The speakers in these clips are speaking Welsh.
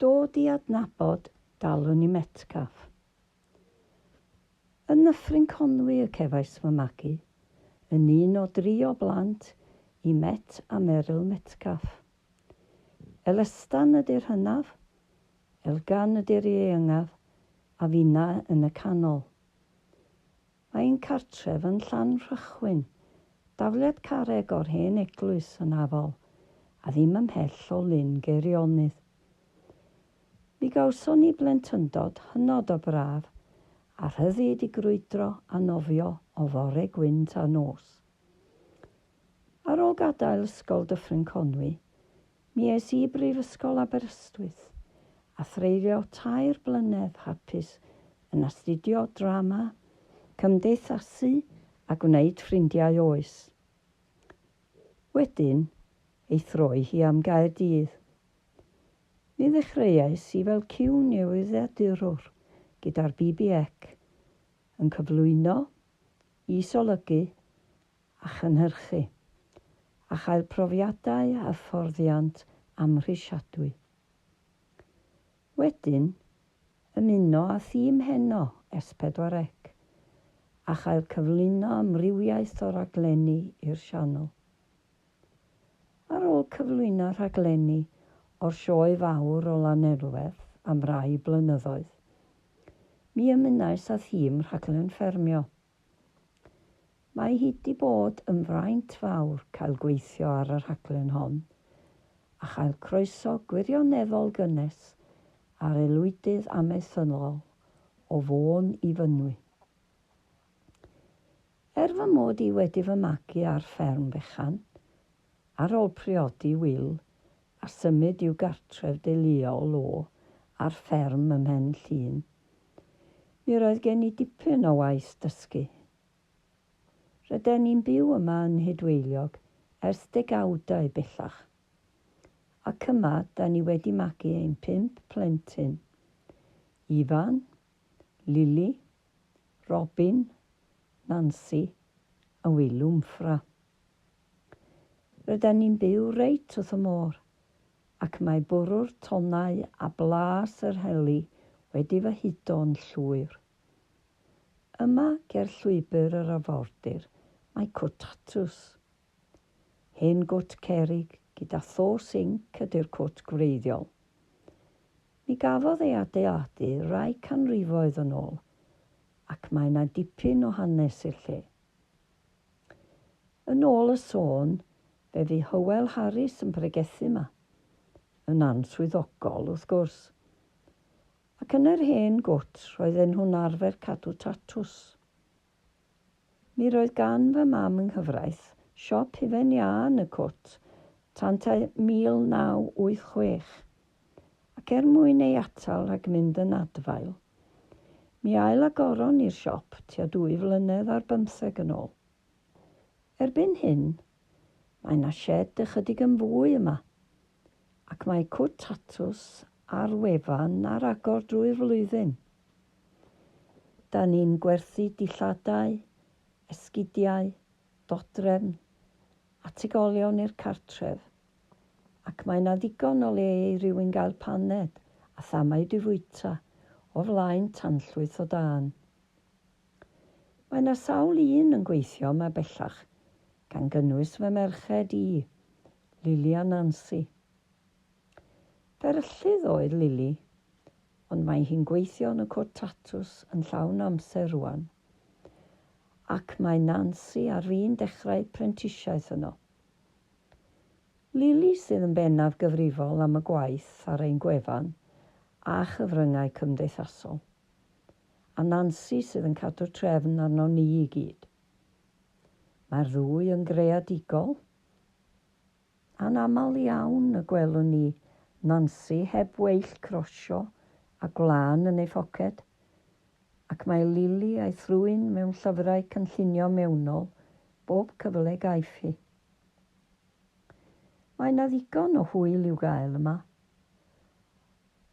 Dod i adnabod dalwn i Metcalfe. Yn Nyffryn Conwy y cefais fy magu, yn un o dri o blant i Met a Meryl Metcalfe. Elestan ydy'r hynaf, Elgan ydy'r ieuengaf, a finna yn y canol. Mae ein cartref yn Llanrhychwyn, dafliad carreg o'r hen eglwys yn Afol, a ddim ymhell o Lyn Geirionydd. Mi gawson ni blentyndod hynod o braf, a rhyddid i grwydro a nofio o fore gwynt a nos. Ar ôl gadael Ysgol Dyffryn Conwy, Mi es i i Brifysgol Aberystwyth a threulio tair blynedd hapus yn astudio Drama, Cymdeithasu a gwneud ffrindiau oes wedyn ei throi hi am Gaerdydd. Mi ddechreuais i fel cyw newyddiadurwr gyda'r BBEC yn cyflwyno, is-olygu a chynhyrchu, a chael profiadau a hyfforddiant amhrisiadwy. Wedyn, ymuno â thîm heno ers pedwar ec, a chael cyflwyno amrywiaeth o raglenni i'r sianel. Ar ôl cyflwyno rhaglenni o'r Sioe Fawr o Lanelwedd am rai blynyddoedd, mi ymunais â thîm Rhaglen Ffermio. Mae hi 'di bod yn fraint fawr cael gweithio ar y rhaglen hon, a chael croeso gwirioneddol gynnes a'r aelwydydd amaethyddol o Fôn i Fynwy. Er fy mod i wedi fy magu ar fferm fechan, ar ol priodi Wil a symud i'w gartref deuluol o ar fferm ym Mhen Llŷn, Mi roedd gen i dipyn o waith dysgu. Ryden ni'n byw yma yn Nhudweiliog ers degawdau bellach, ac yma 'da ni wedi magu ein pump plentyn, Ifan, Lili, Robin, Nansi a Wil Wmffra. Ryden ni'n byw reit wrth y môr, ac mae bwrw'r tonnau a blas yr heli wedi fy hudo'n llwyr. Yma, ger llwybr yr arfordir, mae cwt tatws. Hen gwt cerrig gyda tho sinc ydy'r cwt gwreiddiol. Mi gafodd ei adeiladu rai canrifoedd yn ôl, ac mae 'na dipyn o hanes i'r lle. Yn ôl y sôn, Fe fu Hywel Harris yn pregethu yma, yn answyddogol, wrth gwrs. Ac yn yr hen gwt, roedden nhw'n arfer cadw tatws. Mi roedd gan fy mam yng nghyfraith siop hufen iâ yn y cwt tan tua 1986, ac er mwyn ei atal rhag mynd yn adfail, mi ail-agoron ni'r siop tua dwy flynedd ar bymtheg yn ôl. Erbyn hyn, mae 'na sied ychydig yn fwy yma, ac mae cwt tatws ar wefan ar agor drwy'r flwyddyn. Da ni'n gwerthu dillladau, esgidiau, dodrefn, ategolion i'r cartref, ac mae 'na ddigon o le i rywun gael paned a thamau di fwyta o flaen tanllwyth o dân. Mae 'na sawl un yn gweithio yma bellach, gan gynnwys fy merched i, Lili a Nansi. Fferyllydd oedd Lili, ond mae hi'n gweithio yn y cwrt tatws yn llawn amser rŵan, ac mae Nansi ar fin dechrau prentisiaeth yno. Lili sydd yn bennaf gyfrifol am y gwaith ar ein gwefan a chyfryngau cymdeithasol. a Nansi sydd yn cadw'r trefn arnon ni i gyd. Mae'r ddwy yn greadigol. Anaml iawn y gwelwn ni Nansi heb weill crosio a gwlân yn ei phoced, ac mae Lili a'i thrwyn mewn llyfrau cynllunio mewnol bob cyfle gaiff hi. Mae 'na ddigon o hwyl i'w gael yma.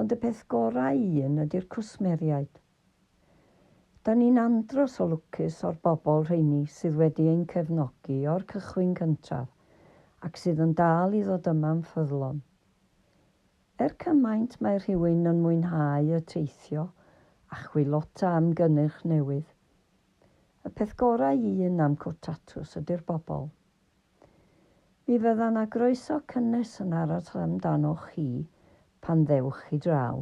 Ond y peth gorau i un ydy'r cwsmeriaid. Da ni'n andros o lwcus o'r bobl rheini sydd wedi ein cefnogi o'r cychwyn cyntaf ac sydd yn dal i ddod yma'n ffyddlon. Er cymaint mae rhywun yn mwynhau y teithio a chwilota am gynnyrch newydd, y peth gorau i un am Cwrt Tatws ydy'r bobl. Mi fydda 'na groeso cynnes yn aros amdanoch chi pan ddewch chi draw.